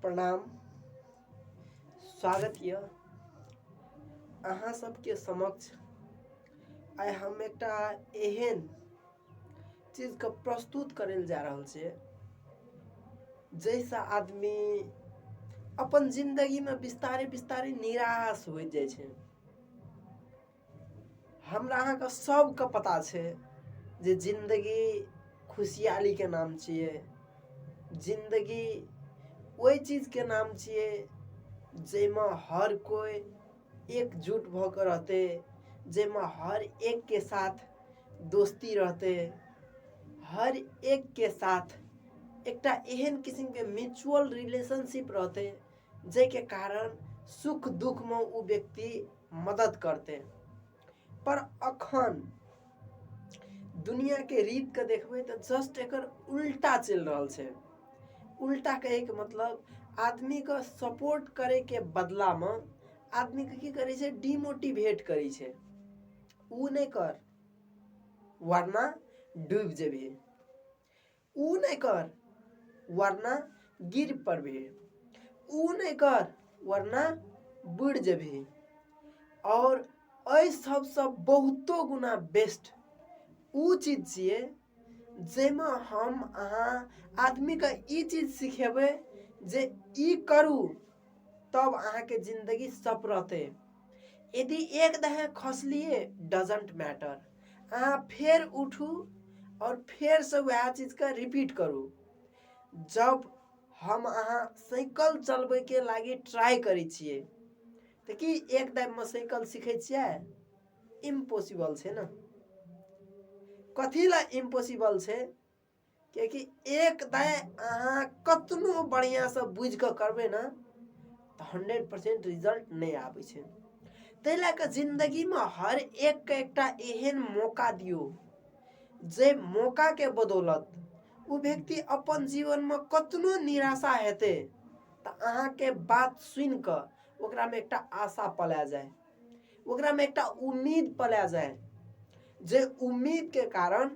प्रणाम स्वागत यऽ अहाँ सबके समक्ष आइ हम एकटा एहन चीजके प्रस्तुत करै लए जा रहल छै जाहिसँ आदमी अपन जिन्दगीमे विस्तारे विस्तारे निराश होइत जाइ छै हमरा अहाँके सभके पता छै जे जिन्दगी खुशियालीके नाम छियै जिन्दगी ओहि चीजके नाम छियै जाहिमे हर कोइ एकजुट भऽ कऽ रहतै जाहिमे हर एकके साथ दोस्ती रहतै हर एकके साथ एकटा एहन किसिमके म्यूचुअल रिलेशनशिप रहतै जाहिके कारण सुख दुखमे ओ व्यक्ति मदद करतै पर अखन दुनिया के रीत के देखबे तो जस्ट एक उल्टा चल रहा है उल्टा कहे के मतलब आदमी को सपोर्ट करे के बदला में आदमी के की करे छे डिमोटिवेट करे छे ऊ नहीं कर वरना डूब जेबे ओ नहि कर वरना गिर पड़बे ओ नहि कर वरना बुड़ जेबे और एहि सबसँ बहुतो गुना बेस्ट ओ चीज छियै जाहिमे हम अहाँ आदमीके ई चीज सिखेबै जे ई करू तब अहाँके जिंदगी सप रहते यदि एक दहे खसलिए डजेंट मैटर अहाँ फेर उठू और फेर से वएह चीज के रिपीट करू जब हम अहाँ साइकिल चलबै के लागी ट्राई करै छियै तऽ की एक दाबि में साइकिल सीखै छियै इम्पॉसिबल छै ने कथी लए इम्पॉसिबल छै किएकि एक दाय अहाँ कतनो बढ़िआँसँ बुझि कऽ करबै ने तऽ हंड्रेड परसेंट रिजल्ट नहि आबै छै ताहि लए कऽ जिंदगीमे हर एक एकटा एहन मौका दियौ जे मौकाके बदौलत ओ व्यक्ति अपन जीवनमे कतनो निराशा हेतै तऽ अहाँके बात सुनि कऽ ओकरामे एकटा आशा पला जाय ओकरामे एकटा उम्मीद पला जाय जे उम्मीदके कारण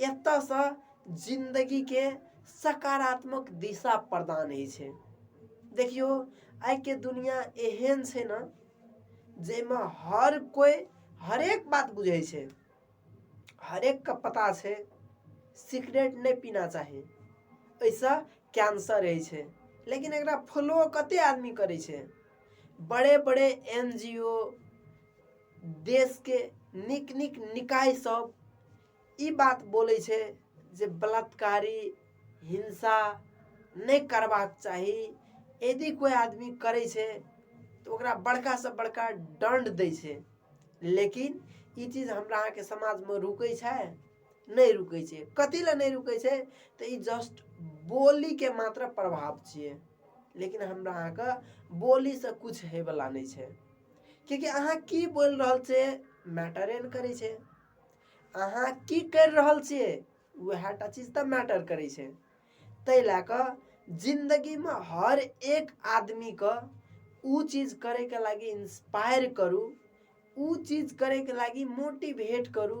एतयसँ जिन्दगीके सकारात्मक दिशा प्रदान होइ छै देखियौ आइके दुनिआँ एहन छै ने जाहिमे हर कोइ हरेक बात बुझै छै हरेकके पता छै सिगरेट नहि पीना चाही एहिसँ कैंसर होइ छै लेकिन एकरा फॉलो कतेक आदमी करै छै बड़े बड़े एन जी ओ देशके नीक नीक निकायसभ ई बात बोलै छै जे बलात्कारी हिंसा नहि करबाक चाही यदि कोइ आदमी करै छै तऽ ओकरा बड़कासँ बड़का दण्ड दै छै लेकिन ई चीज हमरा अहाँके समाजमे रुकै छै नहि रुकै छै कथी लए नहि रुकै छै तऽ ई जस्ट बोलीके मात्र प्रभाव छियै लेकिन हमरा अहाँके बोलीसँ किछु होयवला नहि छै किएकि अहाँ की बोलि रहल छियै मैटरे ने करै छै अहाँ की करि रहल छियै उएह टा चीज तऽ मैटर करै छै ताहि लए कऽ जिन्दगीमे हर एक आदमीके ओ चीज करयके लागि इंस्पायर करू ओ चीज करयके लागि मोटिवेट करू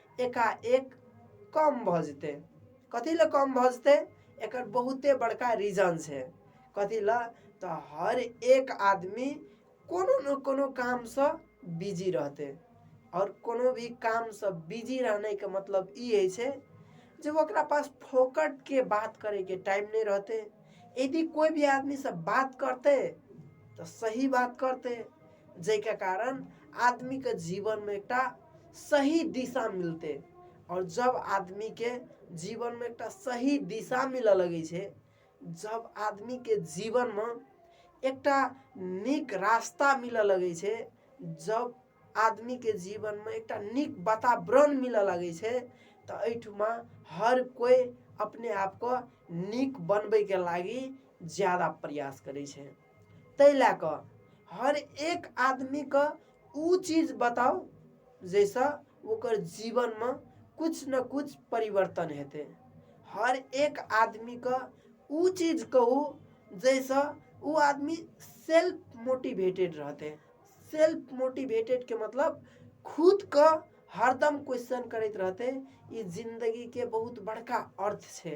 एकाएक कम भऽ जेतै कथी लए कम भऽ जेतै एकर बहुते बड़का रीजन छै कथी लए तऽ हर एक आदमी कोनो ने कोनो कामसँ बिजी रहतै आओर कोनो भी कामसँ बिजी रहनाइके मतलब ई होइ छै जे ओकरा पास फोकटके बात करैके टाइम नहि रहतै यदि कोइ भी आदमीसँ बात करतै तऽ सही बात करतै जाहिके कारण आदमीके जीवनमे एकटा सही दिशा मिलतै आओर जब आदमीके जीवनमे एकटा सही दिशा मिलऽ लगै छै जब आदमीके जीवनमे एकटा नीक रास्ता मिलऽ लगै छै जब आदमीके जीवनमे एकटा नीक वातावरण मिलऽ लगै छै तऽ एहिठुमा हर कोइ अपने आपके नीक बनबैके लागी ज्यादा प्रयास करै छै ताहि लए कऽ हर एक आदमीके ओ चीज बताउ जाहिसँ ओकर जीवनमे किछु ने किछु परिवर्तन हेतै हर एक आदमीके ओ चीज कहू जाहिसँ ओ आदमी सेल्फ मोटिवेटेड रहतै सेल्फ मोटिवेटेडके मतलब खुदके हरदम क्वेश्चन करैत रहतै ई जिन्दगीके बहुत बड़का अर्थ छै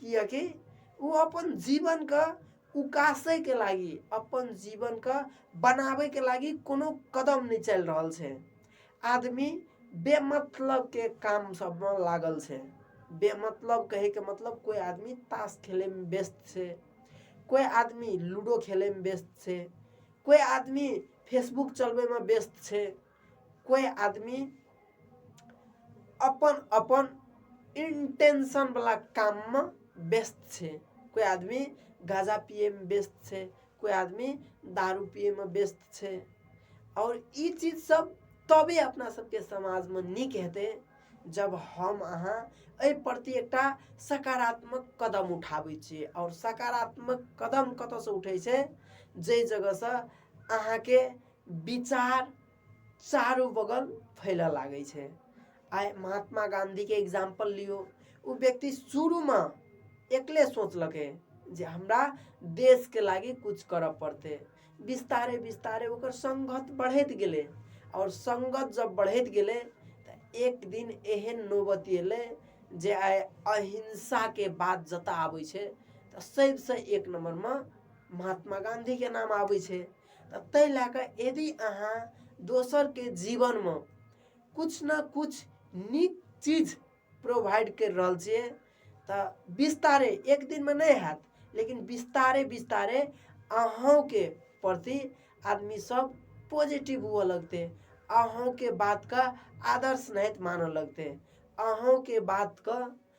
किएकि ओ अपन जीवनके उकासैके लागि अपन जीवनके बनाबैके लागि कोनो कदम नहि चलि रहल छै आदमी बेमतलबके काम सभमे लागल छै बेमतलब कहैके मतलब कोइ आदमी ताश खेलैमे व्यस्त छै कोइ आदमी लूडो खेलैमे व्यस्त छै कोइ आदमी फेसबुक चलबैमे व्यस्त छै कोई आदमी अपन अपन इंटेंशन वाला काम में व्यस्त छे कोई आदमी गाजा पिए में व्यस्त छे कोई आदमी दारू पिए में व्यस्त छे और ई चीज सब तबे अपना सबके समाज में निक हेते जब हम अहाँ ए प्रति एकटा सकारात्मक कदम उठाबै छी और सकारात्मक कदम कत से उठे छे जे जगह से अहाँ के विचार चारू बगल फैलऽ लागै छै आइ महात्मा गाँधीके एग्जाम्पल लियौ ओ व्यक्ति शुरूमे एकले सोचलकै जे हमरा देशके लागी कुछ करऽ पड़तै विस्तारे विस्तारे ओकर संगत बढ़ैत गेलै आओर संगत जब बढ़ैत गेलै तऽ एक दिन एहन नौबत एलै जे आइ अहिंसाके बात जतऽ आबै छै तऽ सभसँ एक नम्बरमे महात्मा गाँधीके नाम आबै छै तऽ ताहि लए कऽ यदि अहाँ दोसरके जीवनमे किछु ने किछु नीक चीज प्रोवाइड करि रहल छियै तऽ विस्तारे एक दिनमे नहि हैत लेकिन विस्तारे विस्तारे अहूँके प्रति आदमीसभ पॉजिटिव हुअ लगतै अहूँके बातकेँ आदर्श नाहित मानय लगतै अहूँके बातकेँ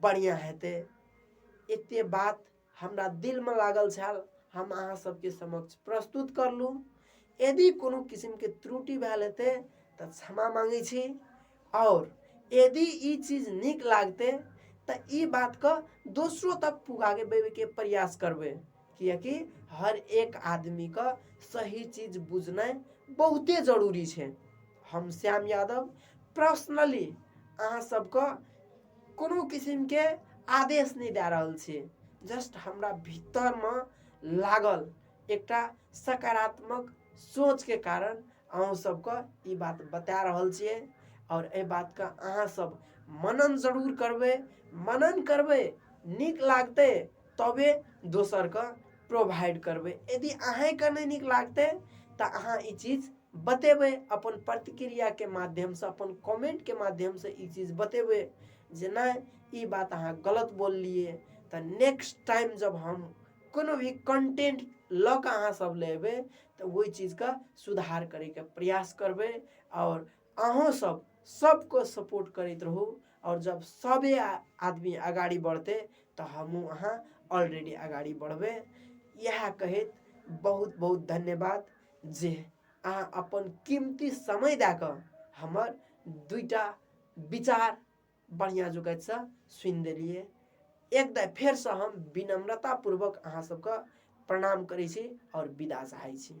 बढ़िआँ हेतै एतेक बात हमरा दिलमे लागल छल हम अहाँ सबके समक्ष प्रस्तुत करलहुँ यदि कोनो किसिमके त्रुटि भेल हेतै तऽ क्षमा माँगै छी आओर यदि ई चीज नीक लागतै तऽ ई बातके दोसरो तक पुगाबैके प्रयास करबै किएकि हर एक आदमीके सही चीज बुझनाइ बहुते जरूरी छै हम श्याम यादव पर्सनली अहाँ सबके कोनो किसिमके आदेश नहि दए रहल छै जस्ट हमरा भीतरमे लागल एकटा सकारात्मक सोचके कारण अहूँ सबके ई बात बता रहल छियै आओर एहि बातके अहाँ सब मनन जरूर करबै मनन करबै नीक लागतै तबे दोसरके प्रोवाइड करबै यदि अहाँके नहि नीक लागतै तऽ अहाँ ई चीज बतेबै अपन प्रतिक्रियाके माध्यमसँ अपन कमेंटके माध्यमसँ ई चीज बतेबै जे नहि ई बात अहाँ गलत बोललियै तऽ नेक्स्ट टाइम जब हम कोनो भी कंटेंट लऽ कऽ अहाँ सब ले एबै तऽ ओहि चीजके सुधार करैके प्रयास करबै आओर अहूँ सब सबको सपोर्ट करैत रहू आओर जब सबे आदमी अगाडि बढतै तऽ हमहूँ अहाँ अलरेडी अगाडि बढबै इएह कहैत बहुत बहुत धन्यवाद जे अहाँ अपन कीमती समय दए कऽ हमर दुइटा विचार बढ़िआँ जोकसँ सुनि देलियै एक दाइ फेरसँ हम विनम्रतापूर्वक अहाँ सबके प्रणाम करै छी आओर विदा चाहै छी